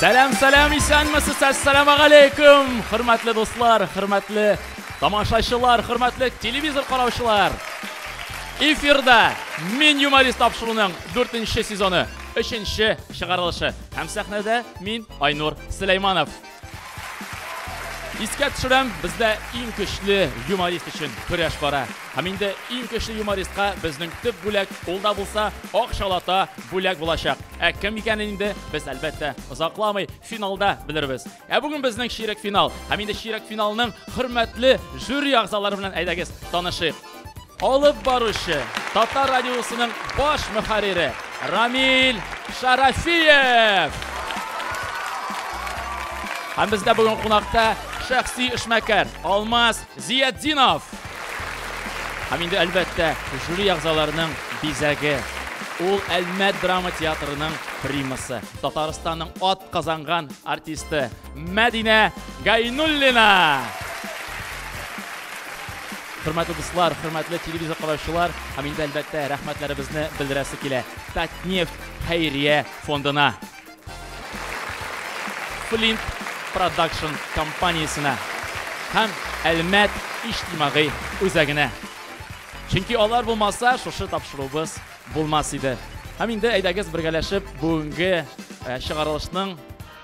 Сәлам, сәлам, исәнмесез, әссәламу алейкум, хөрмәтле дуслар, хөрмәтле тамашачылар, хөрмәтле телевизор караучылар. Эфирда Мин юморист тапшыруның 4 сезоны, 3 чыгарылышы. Һәм сәхнәдә мин, Айнур Сөләйманов. Искә төшерәм, бездә иң көчле юморист өчен көрәш бара. Һәм инде иң көчле юмористка безнең төп бүләк, ул да булса ак шалата бүләк булачак. Ә кем икәнен инде без әлбәттә озакламый финалда белербез. Ә бүген безнең чирек финал. Һәм инде чирек финалның хөрмәтле жюри әгъзалары белән әйдәгез танышыйк. Алып баручы, Татар радиосының баш мөхәррире Рамил Шарафиев! Һәм бездә бүген кунакта шәхси эшмәкәр Алмаз Зиятдинов! Һәм инде, әлбәттә, жюри әгъзаларының бизәге. Ул Әлмәт драма театрының примасы, Татарстанның атказанган артисты, Мәдинә Гайнуллина. Хөрмәтле дуслар, хөрмәтле телевизор караучылар, һәм инде әлбәттә рәхмәтләребезне белдерәсе килә. Татнефть хәйрия фондына. Flint Production компаниясенә һәм Әлмәт иҗтимагый үзәгенә. Чөнки алар булмаса, шушы тапшыруыбыз булмас иде. Һәм инде әйдәгез бергәләшеп бүгенге э, чыгарылышның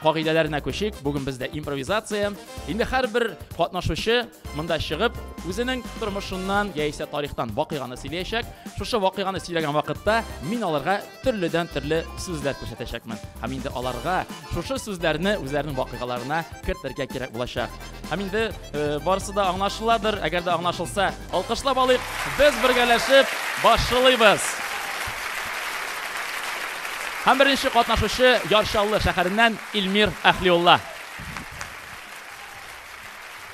кагыйдәләренә күчик. Бүген бездә импровизация. Инде һәрбер катнашучы монда чыгып, үзенең тормышыннан яисә тарихтан вакыйганы сөйләячәк. Шушы вакыйганы сөйләгән вакытта мин аларга төрледән төрле сүзләр күрсәтәчәкмен. Һәм инде аларга шушы сүзләрне үзләренең вакыйгаларына кертергә кирәк булачак. Һәм инде э, барысы да аңлашыладыр, әгәр дә аңлашылса, алкышлап алыйк. Без бергәләшеп башлыйбыз. Һәм беренче катнашучы Яршаллы шәһәреннән Илмир Әхлиулла.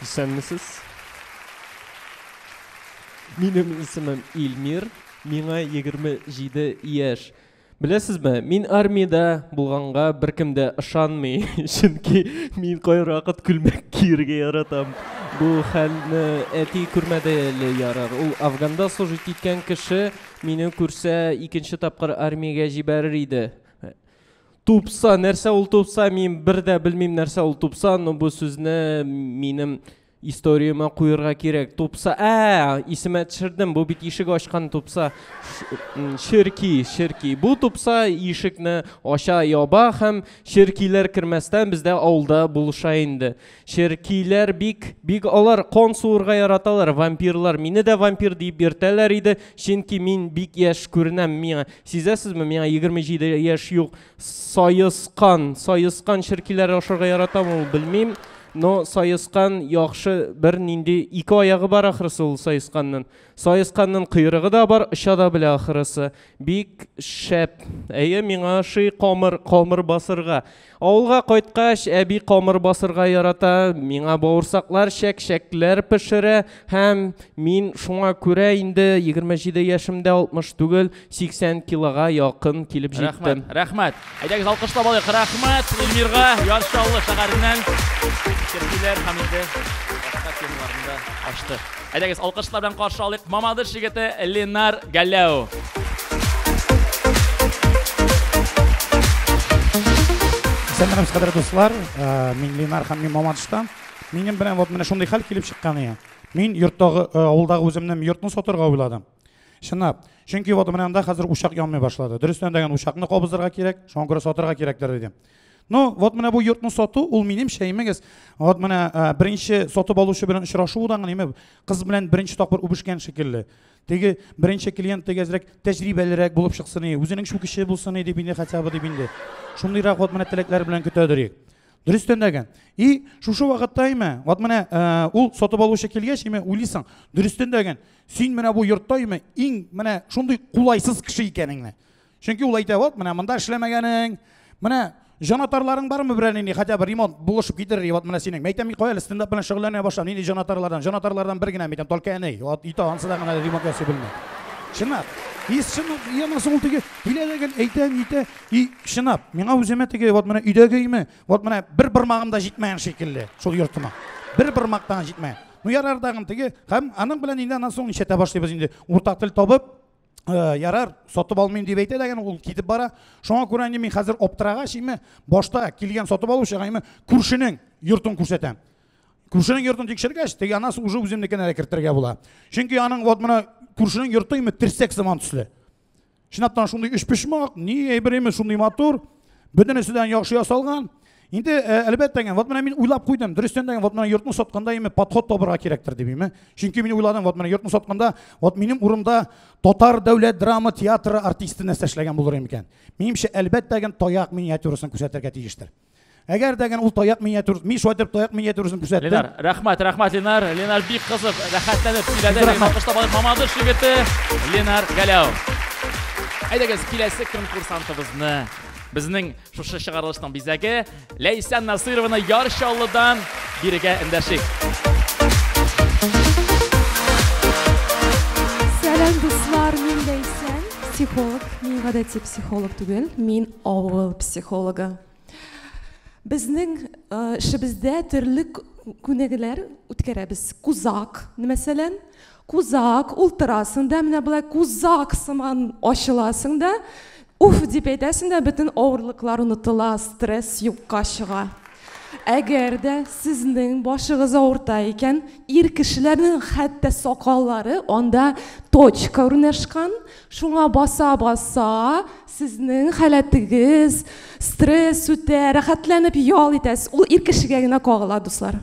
Исәнмесез. Минем исемем Илмир, миңа 27 яшь. Беләсезме, мин армиядә булганга беркем дә ышанмый, чөнки мин кайбер вакыт күлмәк киергә яратам. Бу хәлне әти күрмәде әле ярар. Ул Афганда служить иткән кеше мине күрсә, икенче тапкыр армиягә җибәрер иде. Тупса, нәрсә ул тупса? Мин бер дә белмим нәрсә ул тупса, но бу сүзне минем Историямә куерга кирәк. Тупса, ә, исемә төшердем, бу бит ишек ачкан тупса. Черки, черки. Бу тупса ишекне ача яба һәм черкиләр кермәстән бездә авылда булыша инде. Черкиләр бик, бик алар кон суырга яраталар, вампирлар. Мине дә вампир дип йөртәләр иде, чөнки мин бик яшь күренәм миңа. Сизәсезме, миңа 27 яшь юк. Саескан, саескан черкиләре ашарга яратам ул, белмим. Но саескан яхшы бер нинди ике аягы бар ахрысы ул саесканның. Саесканның койрыгы да бар, оча да белә ахрысы. Бик шәп. Әйе, миңа ши камыр, камыр басырга. Авылга кайткач, әби камыр басырга ярата, миңа бауырсаклар, чәк-чәкләр пешерә һәм мин шуңа күрә инде 27 яшемдә 60 түгел, 80 килога якын килеп җиттем. Рәхмәт, рәхмәт. Әйдәгез алкышлап алыйк. Рәхмәт Эльмирга, Яр Чаллы шәһәреннән. Киргиләр һәм инде башка темаларны да ачты. Әйдәгез алкышлар белән каршы алыйк. Мамадыш егете Ленар Галләу. Сәлам, хәзрәт дуслар. Э, мин Ленар һәм мин Мамадыштан. Минем белән вот менә шундый хәл килеп чыккан ия. Мин йорттагы, э, авылдагы үземнең йортны сатырга уйладым. Чынлап. Чөнки вот менә анда хәзер учак янмый башлады. Дөрестән дә учакны кабызырга кирәк, шуңа күрә сатырга кирәкләр диде. Ну, вот менә бу йортны сату, ул минем шәймегез. Вот менә э, беренче сатып алучы белән очрашу да гыйме, кыз белән беренче тапкыр үбешкән шикелле. Теге беренче клиент теге әзрәк тәҗрибәлерәк булып чыксын иде, үзенең шул кеше булсын иде бинде хотя бы дип инде. Шундыйрак вот менә теләкләр белән көтә дөрик. Дөрестән дәгән. И шушы вакытта име, вот менә э, ул сатып алучы килгәч име, уйлыйсың, дөрестән дәгән. Син менә бу йортта име иң менә шундый кулайсыз кеше икәнеңне. Чөнки ул әйтә, вот менә монда эшләмәгәнең, менә җанатарларың бармы берәр нинди хотя бы ремонт булышып китерер вот менә синең мәйтәм мин кая әле стендап белән шөгыльләнә башлам нинди җанатарлардан җанатарлардан бер генә мәйтәм только әни вот ите ансы да гына ремонт ясый белми чынлап и чынлап и анысы ул теге килә дәген әйтәм итә и чынлап миңа үземә теге вот менә өйдәге име вот менә бер бармагым да җитмәгән шикелле шул йортыма бер бармак та җитмәгән Ну ярар дагын теге һәм аның белән инде аннан соң ничәтә башлыйбыз инде уртак тел табып Э, ярар сатып алмыйм дип әйтә дәген ул китеп бара шуңа күрә инде мин хәзер аптырагач инде башта килгән сатып алучыга инде күршенең йортын күрсәтәм күршенең йортын тикшергәч теге анасы уже үземнекенә дә кертергә була чөнки аның вот менә күршенең йорты инде терсәк сыман төсле Чынлаптан шундый өчпочмак, ни әйбер имеш, шундый матур, бөтенесе дә яхшы ясалган. Инде э, әлбәттә генә, вот менә мин уйлап куйдым, дөрестән дә вот менә йортны сатканда име подход табырга кирәктер дип име. Чөнки мин уйладым, вот менә йортны сатканда, вот минем урында татар дәүләт драма театры артисты нәрсә эшләгән булыр икән. Минемчә, әлбәттә генә таяк миниатюрасын күрсәтергә тиештер. Әгәр дә гән ул таяк миниатюр, мин шулай дип таяк миниатюрасын күрсәттем. Ленар, рәхмәт, рәхмәт Ленар. Ленар бик кызып, рәхәтләнеп сөйләде. Алкыш табалып Мамадыш егете Ленар Галәү. Әйдәгез, киләсе конкурсантыбызны безнең шушы чыгарылышның бизәге Ләйсән Насырованы Яр Чаллыдан бирегә эндәшик. Сәлам, дуслар, мин Ләйсән, психолог. Мин гадәти психолог түгел, мин Авыл психологы. Безнең эшебездә төрле күнегүләр үткәрәбез. Кузак, мәсәлән, кузак ултырасың да, менә болай кузак сыман ачыласың да, уф дип әйтәсең дә, бөтен авырлыклар онытыла, стресс юкка чыга. Әгәр дә сезнең башыгыз авырта икән, ир кешеләрнең хәтта сакаллары анда точка урнашкан, шуңа баса-баса Сезнең халәтегез, стресс үтә, рәхәтләнеп ял итәсез. Ул ир кешегә генә кагыла, дуслар.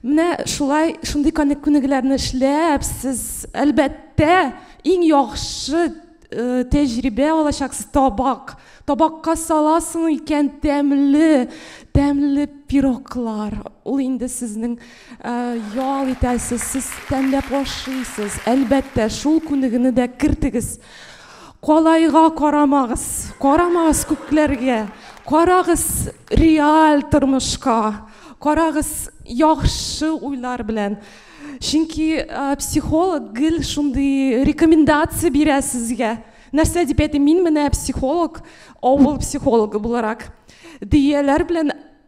Менә шулай, шундый күнегүләрне эшләп, сез, әлбәттә, иң яхшы э, тәҗрибә алачаксыз табак. Табакка саласың икән тәмле, тәмле пироклар. Ул инде сезнең э, ял итәсез, сез тәмләп ашыйсыз. Әлбәттә, шул күнегүне дә кертегез. Калайга карамагыз, карамагыз күкләргә, карагыз реаль тормышка, карагыз яхшы уйлар белән. Чөнки психолог гел шундый рекомендация бирә сезгә. Нәрсә дип әйтим, мин менә психолог, авыл психологы буларак, дөяләр белән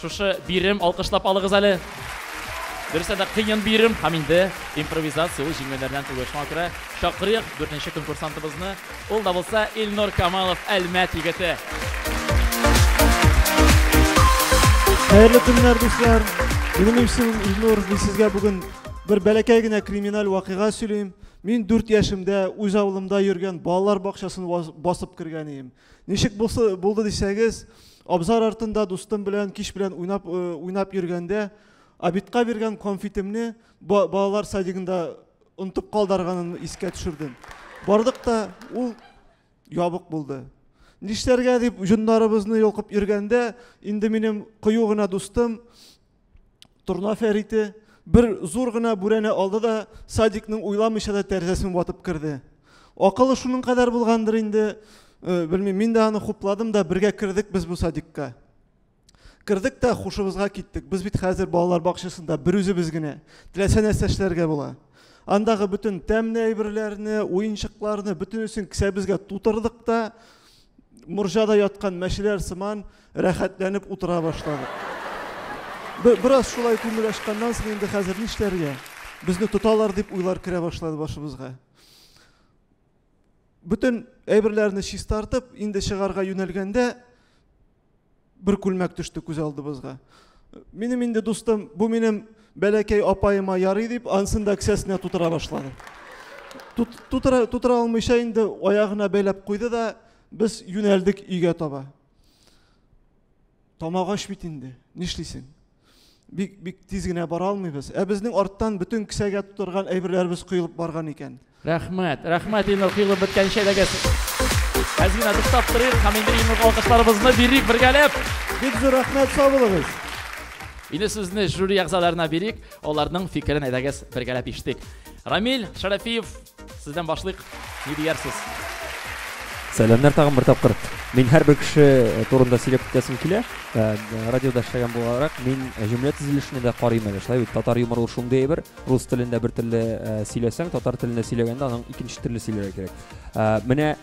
Шушы бирем алкышлап алыгыз әле. Дөрестән дә кыен бирем һәм инде импровизация ул җиңүләрдән түгел. Шуңа күрә чакырыйк дүртенче конкурсантыбызны. Ул да булса Илнур Камалов Әлмәт егете. Хәерле көннәр, дуслар. Минем исем Илнур. Мин сезгә бүген бер бәләкәй генә криминаль вакыйга сөйлим. Мин дүрт яшемдә үз авылымда йөргән балалар бакчасын басып кергән идем. Ничек булсы булды дисәгез, абзар артында дустым белән кич белән уйнап э, уйнап йөргәндә Абитка биргән конфетимне балалар садигында онтып калдарганын искә төшердем. Бардык та ул ябык булды. Нишләргә дип җоннарыбызны йолкып йөргәндә, инде минем кыю гына дустым Торна Фәрите бер зур гына бүрәнә алды да садикның уйламыйча да тәрәзәсен ватып керде. Акылы шуның кадәр булгандыр инде, э, белмим, мин дә аны хупладым да бергә кердек без бу садикка. Кердек тә хушыбызга киттек. Без бит хәзер балалар бакчасында бер үзебез генә. Теләсә нәрсә эшләргә була. Андагы бөтен тәмле әйберләрне, уенчыкларны бөтенесен кесәбезгә тутырдык та Морҗада яткан мәчеләр сыман рәхәтләнеп утыра башладык. Бераз шулай күңел ачканнан соң инде хәзер нишләргә? Безне тоталар дип уйлар керә башлады башыбызга. Бөтен әйберләрне чистартып, инде чыгарга юнәлгәндә, Бер күлмәк төште күз алдыбызга. Минем инде дустым, бу минем бәләкәй апаема ярый дип, ансын да кесәсенә тутыра башлады. Тут, тутыра, тутыра алмыйча инде аягына бәйләп куйды да, без юнәлдек өйгә таба. Тамак ач бит инде, нишлисең? бик бик тиз генә бара алмыйбыз. Ә безнең арттан бөтен кесәгә тутырган әйберләребез коелып барган икән. Рәхмәт. Рәхмәт инде коелып беткәнче дәгез. Без генә туктап торыйк һәм инде иң алкышларыбызны бирик бергәләп. Бик зур рәхмәт сабылыгыз. Инде сүзне жюри әгъзаларына бирик, аларның фикерен әйдәгез бергәләп ишетик. Рамил Шәрәфиев Сездән башлыйк, ни диярсез? Сәламнәр тагын бер тапкыр. Мин һәрбер кеше э, турында сөйләп китәсем килә. Э, радиода эшләгән буларак, мин э, җөмлә төзелешенә дә карыйм әле. Шулай бит, татар юморы ул шундый әйбер. Рус телендә бер телле сөйләсәң, татар телендә сөйләгәндә аның икенче телле сөйләргә кирәк. Менә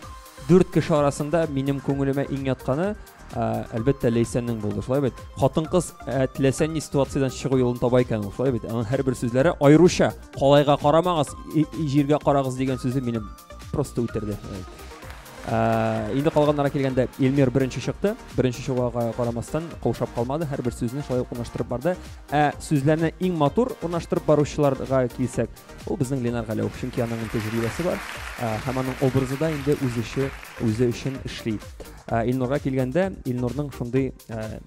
дүрт кеше арасында минем күңелемә иң ятканы Әлбәттә, Ләйсәннең булды. Шулай бит. Хатын-кыз теләсә ни ситуациядән чыгу юлын таба икән ул. Шулай бит. Аның һәрбер сүзләре аеруча калайга карамагыз, җиргә карагыз дигән сүзе мине просто үтерде. Инде калганнара килгәндә Эльмир беренче чыкты. Беренче чыгуга карамастан каушап калмады, һәрбер сүзне шулай ук урнаштырып барды. Ә сүзләрне иң матур урнаштырып баручыларга килсәк, ул безнең Ленар Галәү. Чөнки аның тәҗрибәсе бар һәм аның образы да инде үз эше, үзе өчен эшли. Ә, Илнурга килгәндә, Илнурның шундый ә,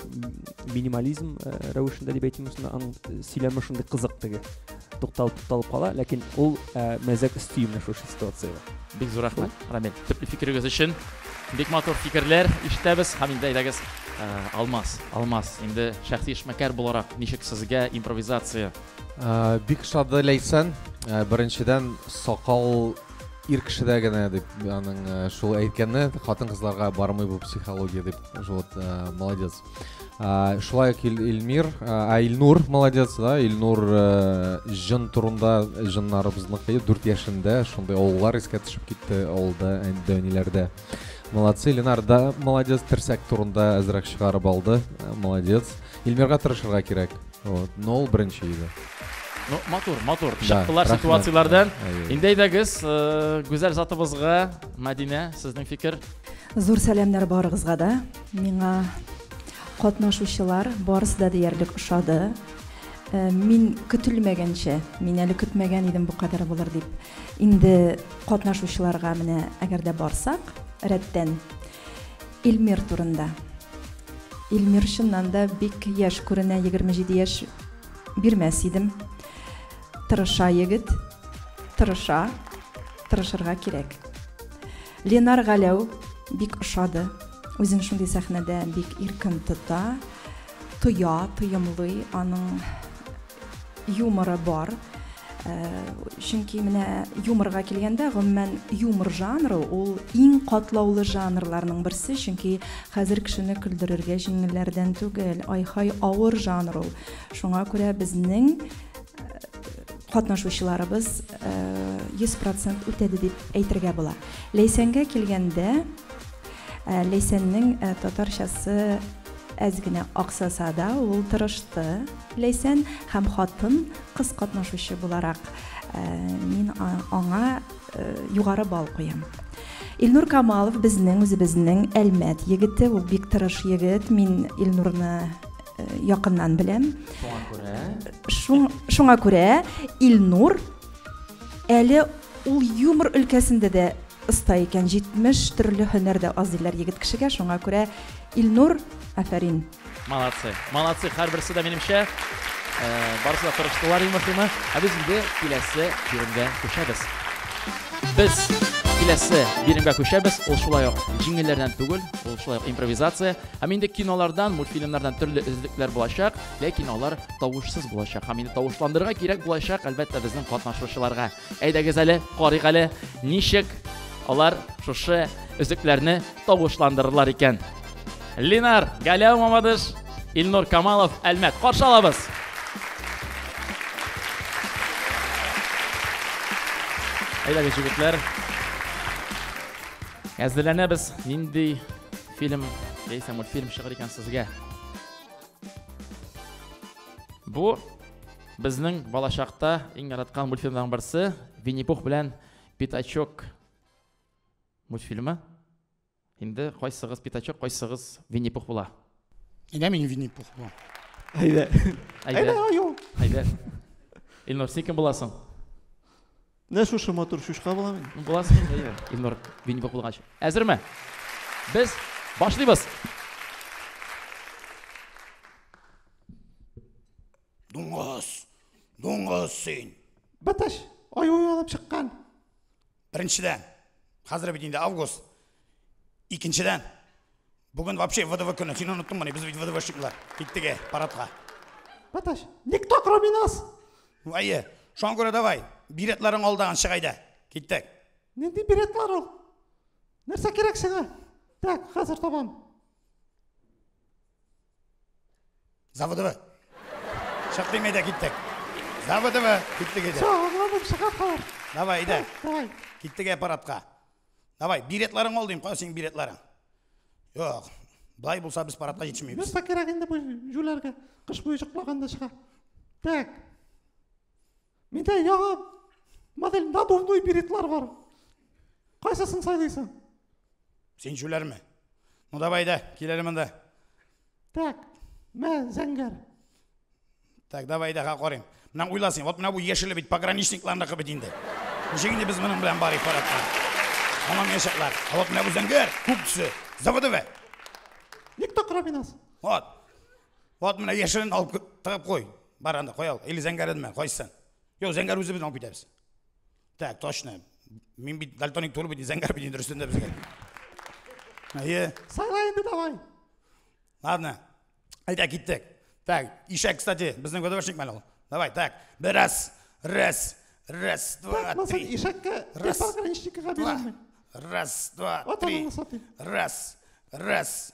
минимализм ә, рәвешендә дип әйтим, аның сөйләме шундый кызык теге. Тукталып тукталып кала, ләкин ул ә, мәзәк өсти менә шушы ситуациягә. Бик зур рәхмәт, Рамил. Төпле фикерегез өчен. Бик матур фикерләр ишетәбез һәм инде әйдәгез ә, Алмаз, Алмаз, инде шәхси эшмәкәр буларак ничек сезгә импровизация Ә, Бик шады Ләйсән. Ә, Беренчедән, сакал ир кешедә генә дип аның э, шул әйткәне хатын кызларга бармый бу психология дип шул вот э, молодец шулай ук илмир ә илнур молодец да илнур э, жын турында жыннарыбызныкы дүрт яшендә шундый авыллар искә төшеп китте авылда әниләрдә молодцы ленар да молодец терсәк турында әзрәк чыгарып алды молодец илмирга тырышырга кирәк Вот, но ул беренче иде. Ну, матур, матур. Чыктылар да, ситуацияләрдән. Инде әйдәгез, э, гүзәл затыбызга, Мәдинә, сезнең фикер? Зур сәламнәр барыгызга да. Миңа катнашучылар барысы да диярлек ошады. Э, мин көтелмәгәнчә, мин әле көтмәгән идем бу кадәр булыр дип. Инде катнашучыларга менә әгәр дә барсак, рәттән Илмир турында. Илмир чыннан да бик яшь күренә, егерме җиде яшь бирмәс идем. Тырыша егет, тырыша, тырышырга кирәк. Ленар Галәү бик ошады. Үзен шундый сәхнәдә бик иркен тота, тоя, тоемлый, аның юморы бар. Э, чөнки менә юморга килгәндә гомумән юмор жанры ул иң катлаулы жанрларның берсе чөнки хәзер кешене көлдерергә җиңелләрдән түгел айхай авыр жанр ул шуңа күрә безнең э, катнашучыларыбыз э, йөз процент үтәде дип әйтергә була ләйсәнгә килгәндә ләйсәннең татарчасы әз генә аксаса да ул тырышты Ләйсән һәм хатын кыз катнашучы буларак, мин аңа югары балл куям. Илнур Камалов безнең үзебезнең Әлмәт егете, ул бик тырыш егет, мин Илнурны якыннан беләм. Шуңа күрә? Шуңа күрә Илнур әле ул юмор өлкәсендә дә оста икән, 70 төрле һөнәр дә аз диләр егет кешегә, шуңа күрә Илнур, афәрин! Молодцы, молодцы, һәрберсе дә минемчә барысы да тырыштылар иң мөһиме. Ә без инде киләсе биремгә күчәбез. Без киләсе биремгә күчәбез. Ул шулай ук җиңелләрдән түгел, ул шулай ук импровизация. Һәм инде кинолардан, мультфильмнардан төрле өзлекләр булачак, ләкин алар тавышсыз булачак. Һәм инде тавышландырырга кирәк булачак, әлбәттә, безнең катнашучыларга. Әйдәгез әле, карыйк әле, ничек алар шушы өзекләрне тавышландырырлар икән. Линар, Галәү Мамадыш, Илнур Камалов, Әлмәт. Каршы алабыз. Әйдәгез, егетләр. Әзерләнәбез. Нинди фильм, яисә мультфильм чыгыр икән сезгә? Бу Безнең балачакта иң яраткан мультфильмның берсе Винни-Пух белән Пятачок мультфильмы. Инде кайсыгыз Пятачок, кайсыгыз Винни-Пух була? Әйдә мин Винни-Пух булам. Әйдә. Әйдә, аю. Әйдә. Илнур, син кем буласың? Менә шушы матур шушка булам мин. Буласың инде, әйдә. Илнур, Винни-Пух булгач. Әзерме? Без башлыйбыз. Дуңгыз! Дуңгыз син! Бытыш, аю алып чыккан. Беренчедән, хәзер бит инде август. Икенчедән, бүген вообще ВДВ көне. Син оныттыңмыни? Без бит ВДВшниклар. Киттеге парадка. Бытыш, никто кроме нас. Вайе, шуңа күрә давай, билетларың алдаган чыгайда. Киттек. Нинди билетлар ул? Нәрсә кирәк сиңа? Так, хәзер табам. Заводовы. Чык димей дә киттек. Заводовы. Киттек иде. Чык, аңладым, чыга калыр. Давай, иде. Давай. Киттек аппаратка. Давай, билетларың ал дим, кая синең билетларың? Юк. Былай булса без парадка җитешмибез. Нәрсә кирәк инде бу җүләргә? Кыш буе чыкмаганда чыга. Так. Миндә яңа модель надувной беретлар бар. Кайсысын сайлыйсың? Син җүләрме? Ну давай да, кил әле монда. Так, мә зәңгәр. Так, давай да карыйм. Менә уйла син, вот менә бу яшеле бит пограничникларныкы бит инде. Ничек инде без моның белән барыйк парадка? Һаман яшәкләр. А вот менә бу зәңгәр, күк төсе. Заводове. Никто кроме нас. Вот. Вот менә яшерен алып тыгып кой. Бар анда коял. Или зәңгәренме? Кайсы? Юк, зәңгәр үзе безне алып китәбез. Так, точно. Мин бит дальтоник туры бит, зәңгәр бит инде өстендә безгә. Әйе. Сайла инде давай. Ладно. Әйдә киттек. Так, ишәк, кстати, безнең ВДВшник мәле ул. Давай, так. Бер раз, раз, раз, два, три. Ишәккә раз, пограничникка бирәме? Раз, два, три. Раз, раз,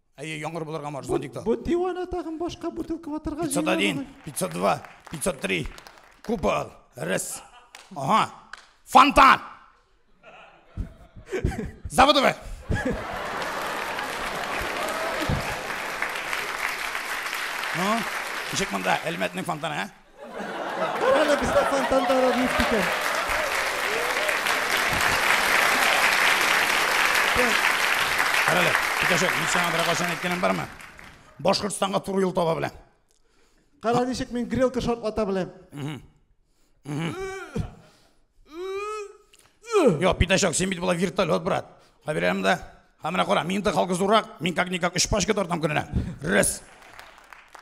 Әйе, яңгыр булырга морж, зонтикта. Бу дивана тагын башка бутылка ватырга 501, 502, 503. Купол. Раз. Ага. Фонтан! Заводове! Ну, ничек монда, Әлмәтнең фонтаны, ә? Әнә бездә фонтанда да булып китә. Карале, Питәшек, мин сиңа бер кайчан әйткәнем бармы? Башкортстанга туры юл таба беләм. Кара ничек мин грелка шартлата беләм. Йо, пидачок, син бит була вертолет, брат. Хабирәм да. Һәм менә кара, мин дә халкы зуррак, мин как никак өч пачка тартам көненә. Рәс.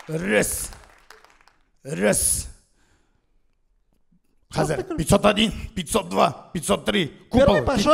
Рәс. Рәс. Хәзер 501, 502, 503 купол. Первый пошел.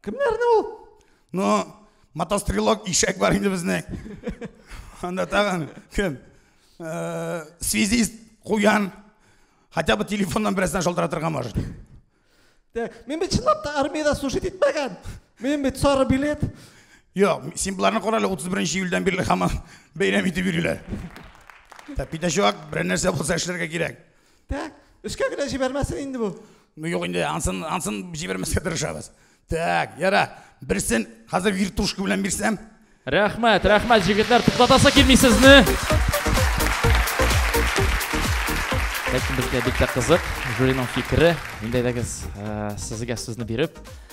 Кемнәрне ул? Ну, мотострелок ишәк бар инде безнең. Анда тагын кем? Э, связист куян. Хотя бы телефоннан берәрсен шалтыратырга может. Мин бит чынлап та армиядә служить итмәгән. Мин бит сары билет. Йо, син боларны кара әле 31 июльдән бирле һаман бәйрәм итеп йөриләр. Тәпидә чувак, берәр нәрсә булса эшләргә кирәк. Так, өскә генә җибәрмәсен инде бу. Ну юк инде, ансын, ансын җибәрмәскә тырышабыз. Так, яра, берсен хәзер вертушка белән бирсәм. Рәхмәт, рәхмәт, җегетләр, туктатасы килми сезне. Ләкин безгә бик тә кызык, жюриның фикере. Инде әйдәгез, э, сезгә сүзне биреп,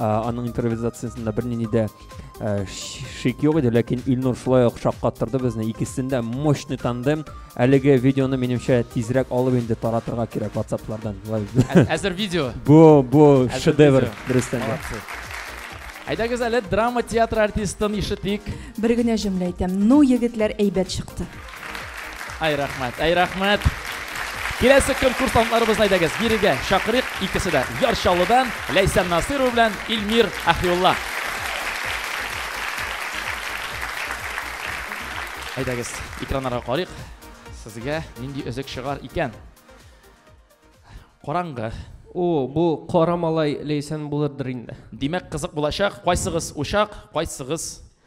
аның импровизациясендә бернинди дә э, шик юк иде ләкин илнур шулай ук шаккаттырды безне икесендә мощный тандем әлеге видеоны минемчә тизрәк алып инде таратырга кирәк ватсаплардан әзер видео бу бу шедевр дөрестән дә әйдәгез әле драма театры артистын ишетик бер генә җөмлә әйтәм ну егетләр әйбәт чыкты Ай рәхмәт, ай рәхмәт. Киләсе конкурсантларыбыз әйдәгез, бирегә чакырыйк икесе дә. Яр Чаллыдан Ләйсән Насырова белән Илмир Ахиулла. Әйдәгез, экраннарга карыйк. Сезгә нинди өзек чыгар икән? Караңгы. О, бу кара малай Ләйсән булырдыр инде. Димәк, кызык булачак. Кайсыгыз учак, кайсыгыз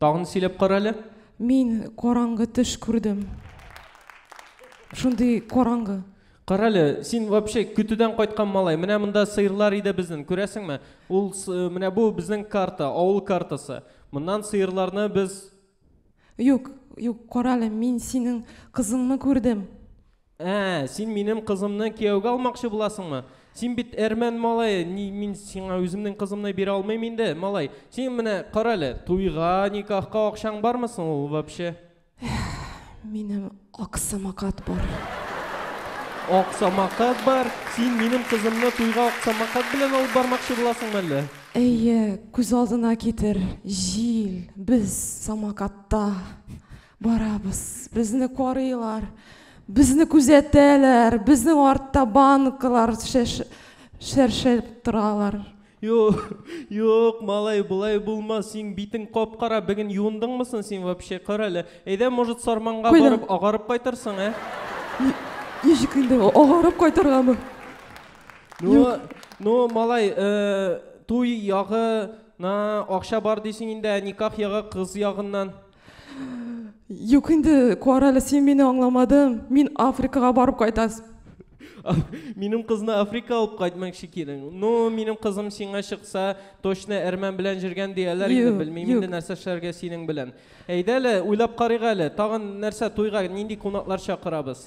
Тагын сөйләп кара әле. Мин караңгы төш күрдем. Шундый караңгы. Кара әле, син вообще көтүдән кайткан малай. Менә монда сыерлар иде безнең, күрәсеңме? Ул менә бу безнең карта, авыл картасы. Моннан сыерларны без Юк, юк, кара әле, мин синең кызыңны күрдем. Ә, син минем кызымны кияүгә алмакчы буласыңмы? Син бит әрмән малае, ни, мин сиңа үземнең кызымны бирә алмыйм инде, малай. Син менә кара әле, туйга, никахка акчаң бармы соң ул вообще? Минем аксамакат бар. Аксамакат бар? Син минем кызымны туйга аксамакат белән алып бармакчы буласыңмы әллә? Әйе, күз алдына китер, җил, без самокатта. Барабыз, безне карыйлар, безне күзәтәләр, безнең артта банкалар шәршәлеп торалар. Юк, юк, малай, болай булмас, син битең кап-кара, бүген юындыңмы соң син вообще, кара әле. Әйдә, может, Сарманга Куйдым. барып агарып кайтырсың, ә? Ничек инде агарып кайтыргамы? Ну, ну, малай, э, туй ягына акча бар дисең инде, ә никах ягы кыз ягыннан. Юк инде, кара әле, син мине аңламадың. Мин Африкага барып кайтас. Минем кызны Африка алып кайтмакчы килен. Ну, минем кызым сиңа чыкса, точно әрмән белән җөргән дияләр инде, Юк, белмим юк. инде нәрсә эшләргә синең белән. Әйдә әле, уйлап карыйк әле. Тагын нәрсә туйга нинди кунаклар чакырабыз?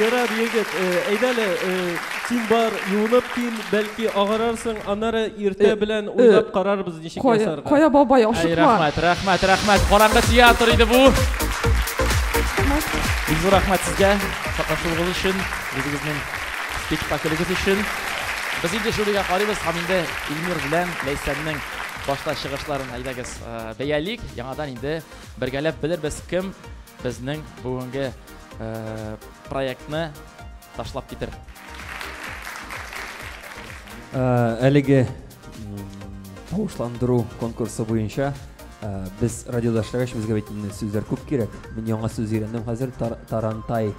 Ярар, егет, әйдә әле, син бар, юынып кил, бәлки агарарсың, аннары иртә белән уйлап карарбыз ничек ясарга. Кая бабай, ашыкма. Рәхмәт, рәхмәт, рәхмәт. Караңгы театр иде бу. Бик зур рәхмәт сезгә катнашуыгыз өчен, үзегезнең спектаклегез өчен. Без инде жюрига карыйбыз һәм инде Илмир белән Ләйсәннең башта чыгышларын әйдәгез бәялик. Яңадан инде Бергәләп белербез кем безнең бүгенге проектны ташлап китер. Әлеге тавышландыру конкурсы буенча без радиодәшләр өчен безгә бит сүзләр күп кирәк. Мин яңа сүз өйрәндем хәзер, тарантаи.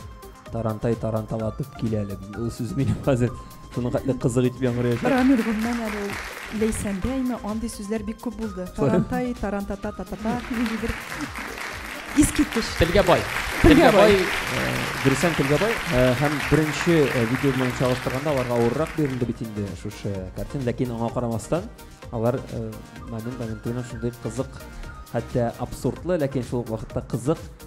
Тарантай таранталатып килә әле. Ул сүз мине хәзер шуның хәтле кызык итеп яңгырыячак. Рамир Гумнан әле ул Ләйсәндәйме, андый сүзләр бик күп булды. Тарантай, тарантата, татата, нинди бер искиткеч. Телгә бай. Телгә бай. Дөресен телгә бай. Һәм беренче видео белән чагыштырганда аларга авыррак бирелде бит инде шушы картина, ләкин аңа карамастан алар момент моментына шундый кызык хәтта абсурдлы, ләкин шул вакытта кызык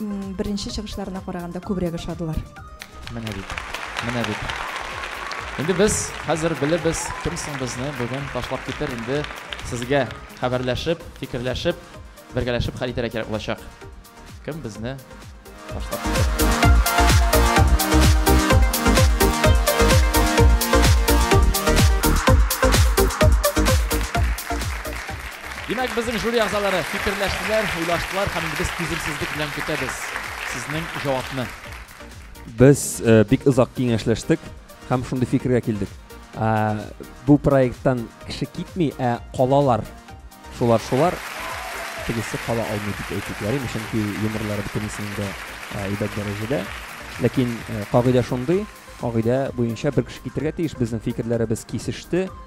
Беренче чыгышларына караганда күбрәк ошадылар. Менә бит. Менә бит. Инде без хәзер белебез, кем соң безне бүген ташлап китер. Инде сезгә хәбәрләшеп, фикерләшеп, бергәләшеп хәл итәргә кирәк булачак. Кем безне ташлап китер. Димәк, безнең жюри әгъзалары фикерләштеләр, уйлаштылар һәм инде без түземсезлек белән көтәбез сезнең җавапны. Без бик озак киңәшләштек һәм шундый фикергә килдек. Бу проекттан кеше китми, ә калалар. Шулар шулар. Тегесе кала алмый дип әйтик, ярыймы, чөнки юморлары бөтенесенең дә әйбәт дәрәҗәдә. Ләкин кагыйдә шундый, кагыйдә буенча бер кеше китәргә тиеш. Безнең фикерләребез кисеште,